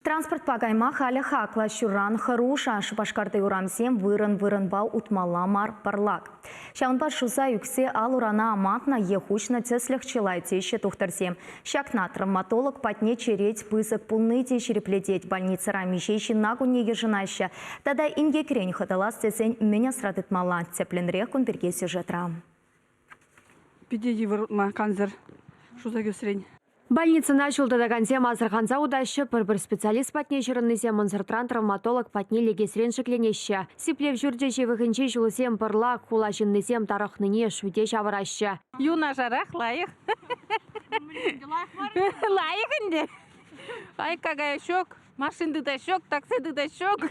Транспортпа кайма халӗ хаклӑ. Ҫуран хӑруша Шупашкарти урамсем вырӑн-вырӑнпа утмалла мар пӑрлак. Ҫавӑнпа шуса ӳксе ал-урана амантнӑ е хуҫнӑ тӗслӗх чылай теҫҫӗ тухтӑрсем. Ҫакна травматолог патне черет пысӑк пулни те ҫирӗплетет, больницӑра миҫе ҫынна кунне йышӑнаҫҫӗ тата инкекрен хӑтӑлас тесен мӗн асра тытмалла, тӗплӗнрех кун пирки сюжетра. Питӗ йывӑрна кансӗр шуса кӳсрен. Больницӑна ҫул тытакансем асӑрханса утаҫҫӗ, пӗр-пӗр специалист патне ҫырӑннисем ӑнсӑртран травматолог патне лекесрен шикленеҫҫӗ. Сиплев ҫурчӗ ҫывӑхӗнчи ҫулсем пӑрлак, хула ҫыннисем тарӑхнине шӳте ҫавӑраҫҫӗ. Юнашарах лайӑх. Лайӑх ӗнтӗ. Айка кая ҫок, машин тытаҫҫок, такси тытаҫҫок.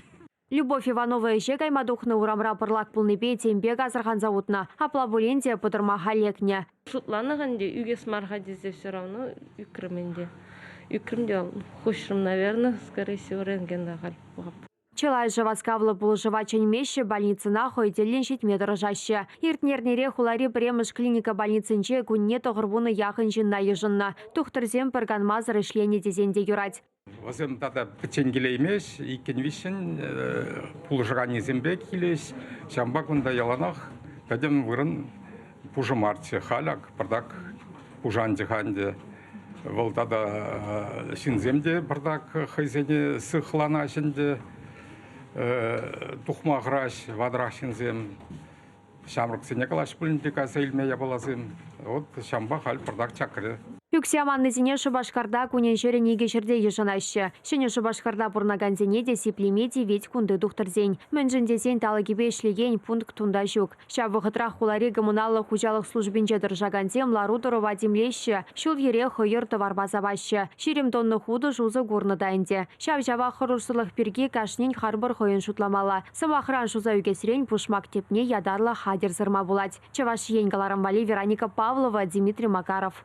Любовь Иванова ӗҫе кайма тухнӑ урамра пӑрлак пулнипе тем пек асӑрханса утнӑ. Апла пулин те пӑтӑрмаха лекнӗ. Шутланӑ ӗнтӗ, ӳкес мар-ха тесе все равно ӳкрӗм ӗнтӗ. Ӳкрӗм те хуҫрӑм, наверное, скорее всего, рентген та халь пухап. Чылайӑшӗ васкавлӑ пулӑшӑва чӗнмеҫҫӗ, больницӑна хӑй тӗллӗн ҫитме тӑрӑшаҫҫӗ. Иртнӗ эрнере хулари пӗрремӗш клиника больницинче кунне тӑхӑр вунӑ яхӑн ҫынна йышӑннӑ. Тухтӑрсем пӗр канмасӑр ӗҫленӗ тесен те юрать. Вӗсем тата пӗччен килеймест, иккӗн-виҫҫӗн пулӑшранисемпе килӗҫ. Ҫавӑнпа кунта яланах пӗтӗм вырӑн пушӑ марччӗ. Халь ак пӑртак пушанчӗ-ха ӗнтӗ. Вӑл тата ҫынсем те пӑртак хӑйсене сыхланаҫ ӗнтӗ. Тухма хӑраҫ ватӑрах ҫынсем. Ҫамрӑксене калаҫ пулин те кайса илме япаласем. Вот ҫавӑнпа халь пӑртак чакрӗ. Ӳксе аманнисене Шупашкарта кунӗн-ҫӗрӗн икӗ ҫӗрте йышӑнаҫҫӗ. Ҫӗнӗ Шупашкарта пурӑнакансене те сиплеме тивет кунти тухтӑрсен. Мӗншӗн тесен талӑкӗпе ӗҫлекен пункт кунта ҫук. Ҫав вӑхӑтрах хулари коммуналлӑ хуҫалӑх службинче тӑрӑшакансем лару-тӑрӑва тимлеҫҫӗ, ҫул-йӗре хӑйӑр тӑварпа сапаҫҫӗ. Ҫирӗм тонна хутӑш усӑ курнӑ та ӗнтӗ. Ҫав-ҫавах хӑрушсӑрлӑх пирки кашнин харпӑр хӑйӗн шутламалла. Сӑмахран, шуса ӳкесрен пушмак тӗпне ятарлӑ хатӗр сырма пулать. Чӑваш Ен кӑларӑм валли Вероника Павлова, Дмитрий Макаров.